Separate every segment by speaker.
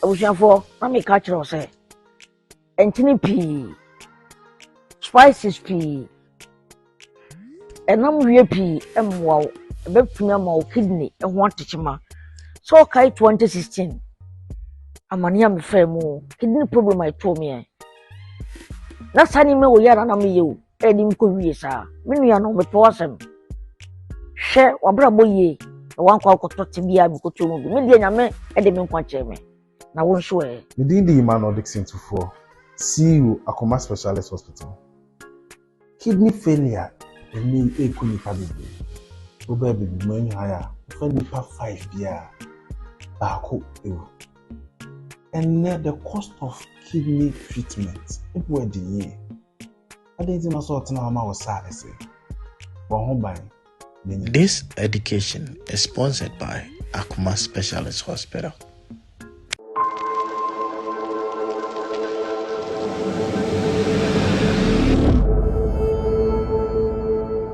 Speaker 1: abusuafoɔ na meka akyerɛ wo sɛ nkyene pii spices pii ɛnam wie pii mmoa wo ɛbɛtumi ama wo kidney ho atekyema sɛ ɔkae 2016 amane a mefaa mu kidney problem a ɛtoo meɛ na saa nneɛma wɔ yɛ a na meyɛ o ɛde nkɔ wie saa me nua no mepɛ w'asɛm hwɛ w'abrabɔ yie na wankɔ akɔtɔ te biara mekɔtɔ mu bi me deɛ nyame ɛde me nkwa kyɛɛ me na wo nso ɛ me din de Emmanuel
Speaker 2: Dixon Tufoɔ CEO Akoma Specialist Hospital kidney failure ɛnɛ yi ɛku nipa bebree wobɛɛ bebi mu ɛnyɛ haya wofa nipa five biara baako ɛwu ɛnɛ the cost of kidney treatment ɛbu ɛde yie Adɛn nti na sɛ ɔtena hɔ ma wo saa ɛsɛ? Bɔ ho ban.
Speaker 3: This education is sponsored by Akuma Specialist Hospital.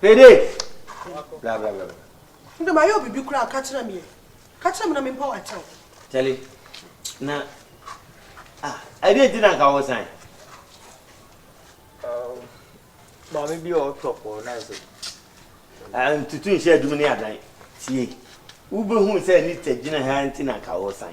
Speaker 4: Dede! Bra bra bra bra. Ndɛ mayɛ wo bibi
Speaker 5: koraa ka kyerɛ me ɛ. Ka kyerɛ me na mempɛ wo atɛw. Kyale,
Speaker 4: na ah ɛdeɛ nti na nka wo san? Um, maame bi a ɔtɔ pɔɔ na ɛsɛ. Ah, ntutu nhyɛ adum ne adan. Tie, wobɛhu sɛ Anita gyina ha nti na nka wo san.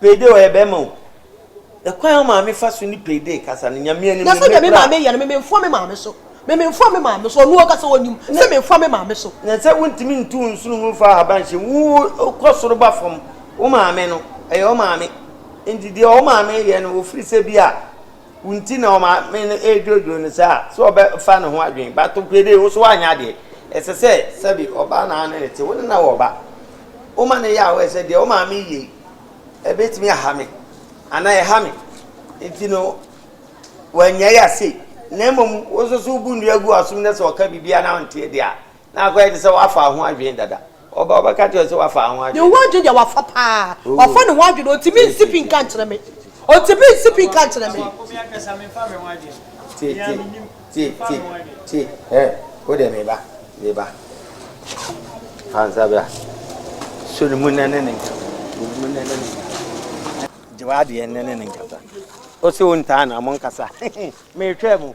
Speaker 4: Payday ɔyɛ bɛɛma o. Ɛkwan a wo maame fa so ne payday kasa no Nyame anim no mepra. Nyɛ sɛdeɛ me maame yɛ no, me menfoa me maame so. Me menfoa me maame so, ɔno ankasa ɔnim sɛ menfoa me maame so. Na sɛ wontumi ntu wo nsono mu mfa ahaban nhyɛ mu, wo kɔ soro ba fam, wo maame no, ɛyɛ wo maame. Nti deɛ wo maame yɛ no, ɔfiri sɛ bi a. Wo nti na ɔmaame no redwoodwoo no saa sɛ ɔbɛfa ne ho adwene. But nokorɛ dee, wo nso woanyɛ adeɛ. Ɛsɛ sɛ sɛbi ɔbaa na ane no te. Wo ne no wɔ ba. Woma no yɛ a woayɛ sɛ deɛ wo maame reyɛ yi ɛbɛtumi aha me anaa ɛha me nti no wannyae yɛ sei. Na mmom wo nso so wobu nnua gu w'asom na sɛ ɔka biribi a na wonteɛ deɛ a. Na akɔyɛ te sɛ woafa ho adwene dada. Ɔba a ɔbɛka akyerɛ wo sɛ woafa ho adwene. Ne ho adwene deɛ wafa paa. Wafa ne ho adwene, ɔntumi nsi pi nka nkyerɛ me. Ɔntumi nsi pi nka nkyerɛ me. Tie, tie, tie, tie, tie. Wo deɛ meba, meba. Fa nsa bra. So ne mu nnɛ ne ne nkasa. So ne mu nnɛ ne ne nkasa. Gye w'adeɛ nnɛ ne ne nkasa. Ɔse wontaa na monkasa. Meretwɛn mo.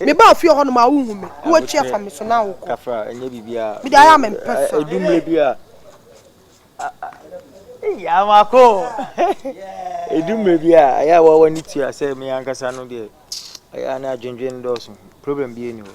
Speaker 5: Mebaa fie hɔ no maa wohu me na woatwi afa me so na wokɔ. Mede ayɛ
Speaker 4: a mempɛ sa. Ɛdu mmerɛ bi a ɛyɛ a woa w'ani tua sɛ me ankasa no deɛ ɛyɛ a na adwendwene dɔɔso problem biara nni hɔ.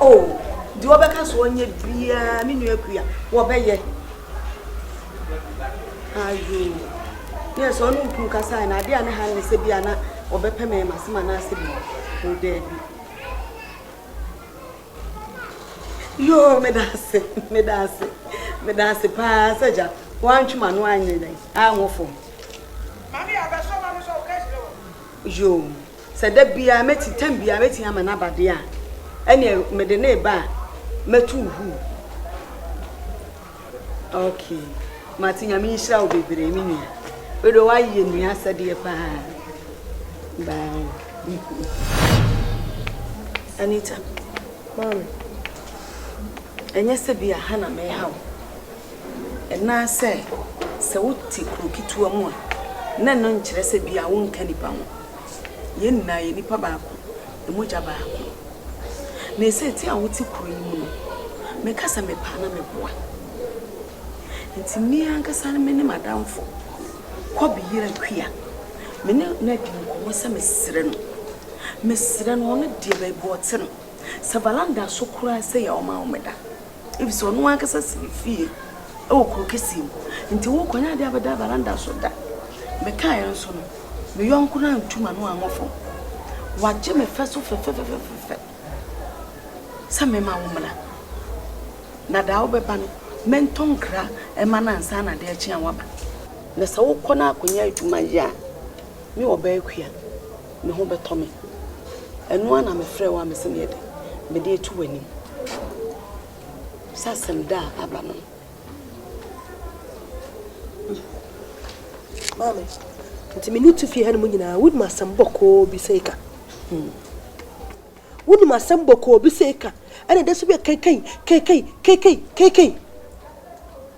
Speaker 6: Oh, deɛ ɔbɛka so ɔnyɛ biara, me nua kuya, wɔbɛyɛ. Ayo, yɛ sɛ ɔne okun kasa na adeɛ a ne ha ne sɛ bi a na ɔbɛpɛ mɛ ma se ma na asɛ bi o daabi. Yo, me da ase, me da ase, me da ase paa sɛ gya, wantwe ma no anyɛ dɛn, anwo fam. Mami abɛsɔ ma no sɛ ɔka kyerɛ wɔ. Yo, Sɛ da biara mɛti, tam biara mɛti ama no aba deɛ a, ɛneɛ mede no reba a, mɛto wo huu. Ok, mate, Nyame nhyira wo bebree me nua. Wedeɛ woayɛ nua asɛdeɛ paa. Bye. Anita, Mami, ɛnyɛ sɛ bi aha na meha wo. Ɛnaa sɛ, sɛ wote kuro ketewa mu a, na ɛno nkyerɛ sɛ bi a wonka nipa ho. Yɛn nyinaa yɛ nipa baako, mogya baako. Na ɛsɛ ti a wote kuro yi mu no, meka sɛ mepɛ a na meboa. Nti me ankasa no me ne m'adamfo Kɔbe Yira Kua, me ne no adi nkɔmmɔ sɛ mesrɛ no, mesrɛ no, ɔno deɛ baabi ɔte no, sɛ valanda so koraa sɛ yɛ ɔma wo meda. Efisɛ ɔno ankasa si ne fie wɔ kurow kɛse mu, enti worekɔ nyɛ ade abɛda veranda so da. Mekae nso no, me yɔnko no antu m'ano ammɔ fam. Wagye me fɛ so fɛfɛfɛfɛfɛ sɛ memma wommra, na daa wobɛba no, mentɔ nkra mma no ansa na ade rekye a woaba. Na sɛ wokɔ na akɔnya adwuma yɛ a, Me ɔbaa akua, me ho bɛtɔ me. Ɛno ara na mefrɛɛ wo a mese neɛ de mede ato w'anim sɛ asɛm da a aba no.
Speaker 5: Maame, nti me ne tu fie hanom nyinaa, wonim asɛm bɔkɔɔ bi sɛ ɛka. Hmm. Wonim asɛm bɔkɔɔ bi sɛ ɛka, ɛna da so bi a kɛkɛi, kɛkɛi, kɛkɛi, kɛkɛi.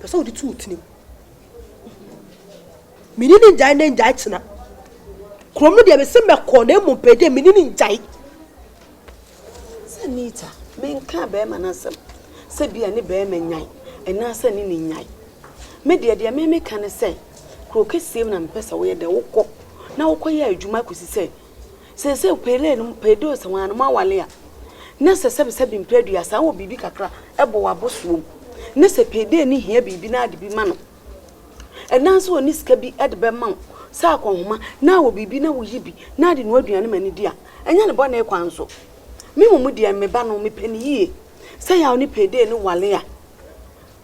Speaker 5: Pɛ sɛ wode to wo tirim. Mene ne ngyae ne ngyae kyena. Kurom no deɛ mese mɛkɔ na mmom pɛ deɛ mene ne ngyae. Sɛ
Speaker 6: Nita, menka bɛrima no asɛm sɛ bia ne bɛrima nyan anaasɛ ne ne nyan. Me deɛ deɛ me meka ne sɛ kuro kɛseɛ mu na mepɛ sɛ woyɛ dɛ wokɔ na wokɔyɛ adwuma kɔsi sɛ Seesei Pele no mu pɛ dɔɔso ara na moawale a, na sɛ sɛbesɛbe mpɛ aduasa wɔ biribi kakra bɔ w'abosoɔ mu, na sɛ Pele no hia biribi na ade bi ma no, anaa sɛ ɔnni sika bi de bɛma wo sɛ akɔnhoma na wɔ biribi na woyi bi na de noa aduane ma no di a, ɛnyɛ no bɔne kwan so. Me mmom deɛ, me ba no, mepɛ no yie. Sɛ yaw ne Pele no wale a,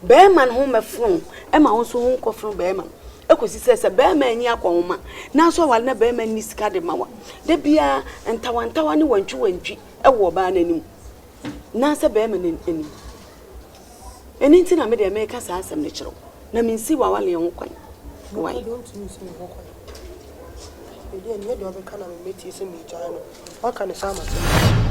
Speaker 6: Bɛrima no ho mmɛfono ma wo nso ho nkɔfono bɛrima no kɔsi sɛ sɛ bɛrima ani akɔ wo ma nanso aware na bɛrima nni sika de ma wa. Da biara ntawantawa ne wantwiwantwi wɔ ɔbaa no anim anaasɛ bɛrima no anim. Ɛno nti na me deɛ meka saa asɛm no kyerɛ wo na mensi w'awaleɛ ho kwan. Why? Ɛdeɛ ntumi nsi me ho
Speaker 5: kwan. Ɛdeɛ nyɛ deɛ ɔbɛka na memmɛtie sɛ megyae no. Waka ne saa ama sɛ megyae.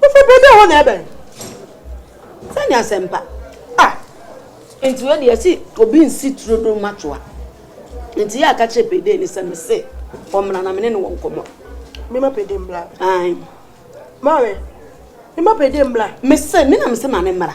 Speaker 5: Wofa bɔ dɛ hɔ na ɛbɛn.
Speaker 6: Sɛ ne asɛmpa. Ah! Nti wei deɛ yɛse obi nsi turo do mma toa. Nti yɛ a ka kyerɛ Payday no sɛ mese ɔmmra na me ne no wɔ nkɔmmɔ. Mema Payday
Speaker 5: mmra. Ae.
Speaker 6: Maame,
Speaker 5: mema Payday mmra. Mese, me na mese
Speaker 6: ma no mmra.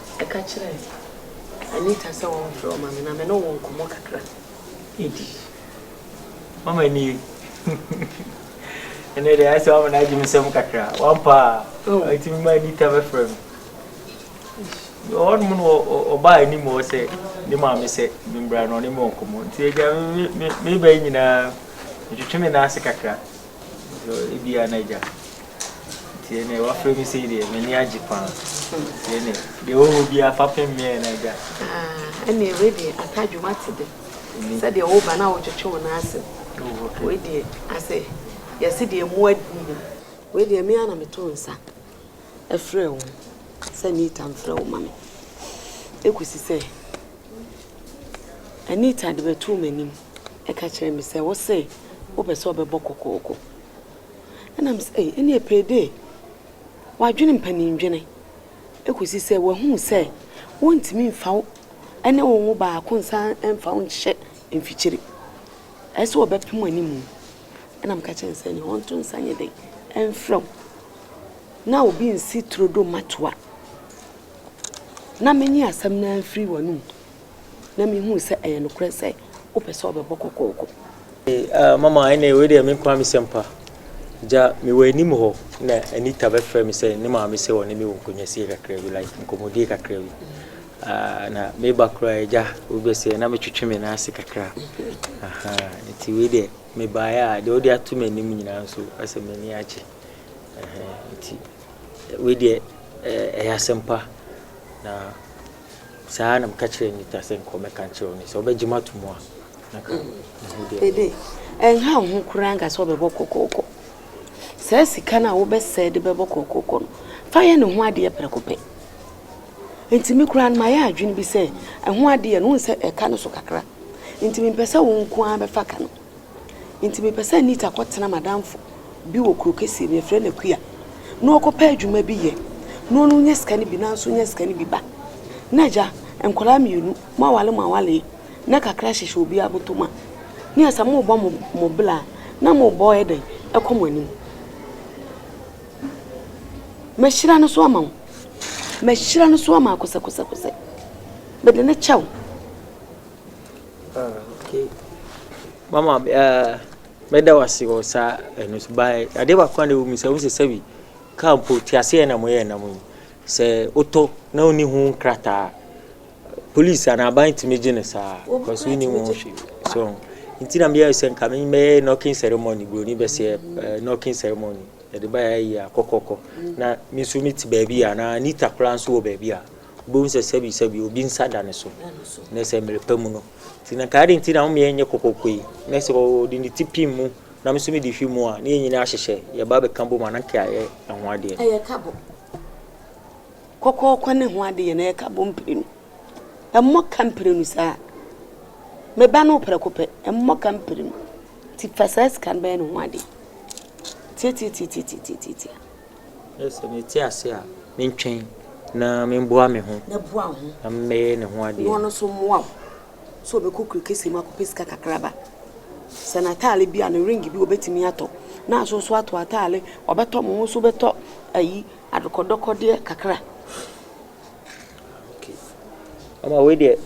Speaker 6: Ɛka kyerɛɛ Anita sɛ
Speaker 7: ɔmfrɛ ɔma me na me ne wo nkɔmmɔ kakra. Eddie, Mama nie. Ɛnɛ deɛ ayɛ sɛ wama no agye me nsam kakra. Wampa a, ɔtumi ma Anita bɛfrɛ me. Wɔ hɔnom no, ɔbaa anim hɔ sɛ ne maame sɛ membra na ɔne me wɔ nkɔmmɔ. Nti agya, meba yi nyinaa, metwetwe me nan ase kakra. Ebia na agya. Tienee, wafrɛ me sei deɛ, m'ani agye paa. Tienee, deɛ ɛwɔ hɔ biara fa pem meɛ na agya. Ah, ɛneɛ wei
Speaker 6: deɛ aka adwuma te de. Mm. Sɛdeɛ woba na wotwetwe wo nan ase no, wei deɛ asɛ yɛse deɛ mu adi no. Wei deɛ me ara na meto nsa frɛ wo sɛ Anita mfrɛ wo ma me. Ɛkɔsi sɛ Anita de bɛtoo m'anim ka kyerɛ me sɛ wose wopɛ sɛ ɔbɛbɔ kɔkɔɔkɔ. Ɛna me se ei ɛneɛ Payday wadwene mpanin dwene ɛkɔsi sɛ wahunu sɛ wontumi mfa wo ɛne wo wo baako nsan mfa wo nhyɛ mfikyire. Ɛyɛ sɛ wɔbɛpem animu. Ɛna meka kyerɛɛ no sɛ ɛneɛ ɔnto nsa nyɛ dɛn ɛmfrɛ wo na obi nsi turodoo mmatoa na menye asɛm no ara mfiri w'anomu. na mihuu sɛ ɛyɛ nokorɛ sɛ wopɛ sɛ ɔbɛbɔ kɔkɔɔkɔ. Ee, Mama,
Speaker 7: ɛnneɛ wei deɛ menkoa me sɛmpa. Gya, mewɔ anim hɔ na Anita bɛfrɛɛ me sɛ ne maame sɛ ɔne me wɔ nkɔnyasie kakra bi, like nkɔmmɔdie kakra bi. Aah, na meba koraa a, gya, obi bɛsɛe, na metwetwe me nan ase kakra. Ahaa, nti wei deɛ mebaeɛ a, deɛ wode ato m'anim nyinaa nso, asɛ m'ani agye. Ɛhɛɛ, nti wei deɛ ɛyɛ asɛmpa, na. Saa ara na meka kyerɛɛ Nita sɛ nkɔ mɛka nkyerɛ wo ne sɛ ɔbɛgye me ato mu a na nka ne ho deɛ.
Speaker 6: Dede, ɛnha wo ho koraa nka sɛ ɔbɛbɔ kɔkɔɔkɔ. Saa sika no a wobɛsɛe de bɛbɔ kɔkɔɔkɔ no, fa yɛ ne ho adeɛ prɛko pɛ. Nti me koraa no mayɛ adwene bi sɛ ɛho adeɛ no wohu sɛ ɛka no so kakra. Nti mempɛ sɛ wo nko ara bɛfa ka no. Enti mepɛ sɛ Anita kɔtena m'adamfo bi wɔ kuro kɛseɛ mu, yɛfrɛ no Akua, na ɔkɔpɛ adwuma bi yɛ, na ɔno nya sika no bi, na nso nya sika no bi ba. Na agya, nkwadaa mmienu, moawale moawale, na kakra hyehyɛ obiara bɔtɔ mu a, ne yɛ sɛ morebɔ mo, mo bla a, na morebɔ yɛ dɛn, ɛkɔ mo anim. Mɛhyira no so ama wo. Mɛhyira no so ama akosɛkosɛkosɛ. Mede ne kyɛ wo.
Speaker 7: Okay mama mɛda wo ase wɔ saa ɛno so ba adeɛ baako a na ɛwɔ mu sɛ wohu sɛ sɛbi kaa mpo teaseɛ na moyɛ nam yi sɛ wotɔ na wonni ho nkrataa polisi anaa aban tumi gye no saa kɔso wonni ho hwe so nti na meyɛ sɛ nka mɛyɛ knocking ceremony buroni bɛsɛ knocking ceremony ɛde baeɛ yɛ akɔkɔkɔ na me nso mete baabi a na anita koraa nso wɔ baabi a Wobɛhu sɛ sɛbisɛbi obi nsa da ne so, na ɛsɛ mmerɛ pa mu no. Nti na nka adɛn nti na womeɛ nyɛ kɔkɔkɔ yi, na sɛ ɔde ne ti pim mu, na me nso mede hwi mu a, na yɛn nyinaa ahyehyɛ, yɛba bɛka bom a, na nka yɛayɛ ɛho adeɛ. Ɛyɛ ka
Speaker 6: bom. Kɔkɔkɔ ne ho adeɛ no, ɛyɛ ka bom mprenu. Ɛmmɔ ka mprenu saa. Me ba no prɛko pɛ, ɛmmɔ ka mprenu. Nti fa saa sika no bɛyɛ ne ho adeɛ. Tiatiatiatiatiatiatia.
Speaker 7: Ɛyɛ sɛ mete ase a, mentwɛn na memboa me ho na memmɛyɛ
Speaker 6: ne ho
Speaker 7: adeɛ. Na ɔno nso mmoa wo
Speaker 6: sɛ ɔbɛkɔ kuro kɛseɛ mu akɔpɛ sika kakraba. Sɛ n'ataale bi a, ne ring bi ɔbɛtumi atɔ. Na nso nso ato ataale, ɔbɛtɔ mo nso bɛtɔ ayi adokɔdɔkɔdeɛ kakra.
Speaker 7: Okay. Ama wei deɛ,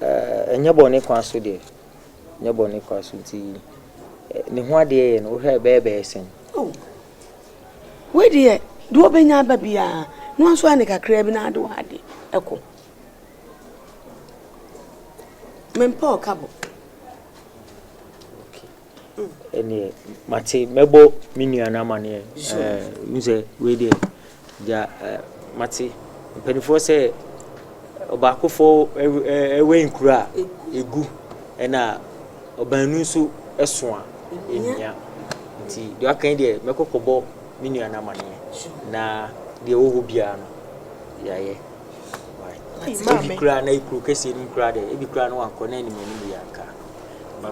Speaker 7: ɛnyɛ bɔne kwa so deɛ. Ɛnyɛ bɔne kwa so nti ne ho adeɛ yɛ no wohwɛ bɛyɛ bɛyɛ sɛn? Oh,
Speaker 6: Wei deɛ, deɛ ɔbɛnya aba biara no, wo nso ɛne kakraa bi no ara de wo ade kɔ. Mempɛ ɔkabɔ. ɛneɛ mate mɛbɔ me nua no amaneɛ sɛ wei deɛ Deɛ mate mpaninfoɔ sɛ ɔbaakofoɔ wɛn kuro a ɛgu ɛna ɔbaanu nso so a ɛhia nti deɛ waka yi deɛ mɛkɔ kɔbɔ me nua no amaneɛ na deɛ ɛwɔ hɔ biara no yɛayɛ ebi koraa na kuro kɛseɛ no mu koraa deɛ ebi koraa no wankɔ na anim anim yɛ anka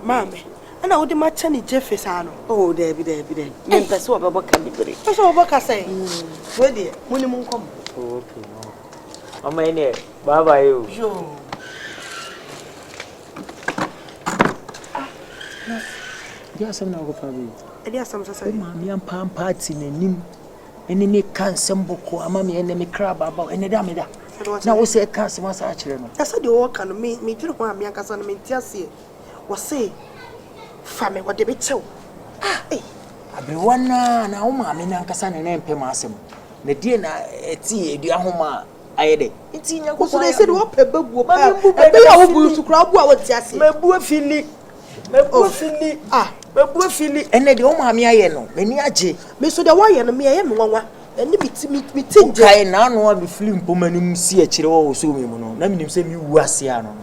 Speaker 6: maame
Speaker 5: Ɛna wode makyɛ ne gyefe saa no. Oh daabi daabi
Speaker 6: daabi. Me mpɛ sɛ wɔbɛbɔ ka bibire. Mpɛ sɛ wɔbɔ ka sɛn?
Speaker 5: Wei deɛ
Speaker 6: mo ne mo nkɔ mo. Oh okay
Speaker 7: no. Mama yi deɛ bye bye o. Oh.
Speaker 6: Yoo.
Speaker 7: Ah. Ɛdi asɛm na ɔkɔ fa bi. Ɛdi asɛm sɛ sɛ. O
Speaker 5: maame ampa ampa ati
Speaker 7: n'anim. Ɛne me ka nsɛm bɔkɔ ama me ɛnɛ me kra baaba ɛnɛ da me da. Na wo sɛ ɛka asɛm asa akyerɛ no. Ɛsɛ deɛ wɔka no me
Speaker 5: me dwere ho a me ankasa no me nte aseɛ. Wɔse fa me wɔde me kyɛw ah ei. Aberewa no
Speaker 7: ara anaa wo maame no ankasa na na ɛmpɛ m'asɛm na deɛ na ɛte adua ho ma ayɛ dɛ nti Nyankopɔn
Speaker 5: ayɛ adom. Mame mbu bɛ na mafili. Mabu afili. Mabu afili.
Speaker 7: Mabu afili. Ɛnɛ deɛ wo maame ayɛ no m'ani agye. Me nso deɛ wɔyɛ no me
Speaker 5: ɛyɛ me nwanwa. Ɛne me ti me ti ngyɛ. Wokae n'ano a mefili
Speaker 7: mpoma no mu si akyire hɔ wɔ soo me mu no na menim sɛ mewu ase ano no.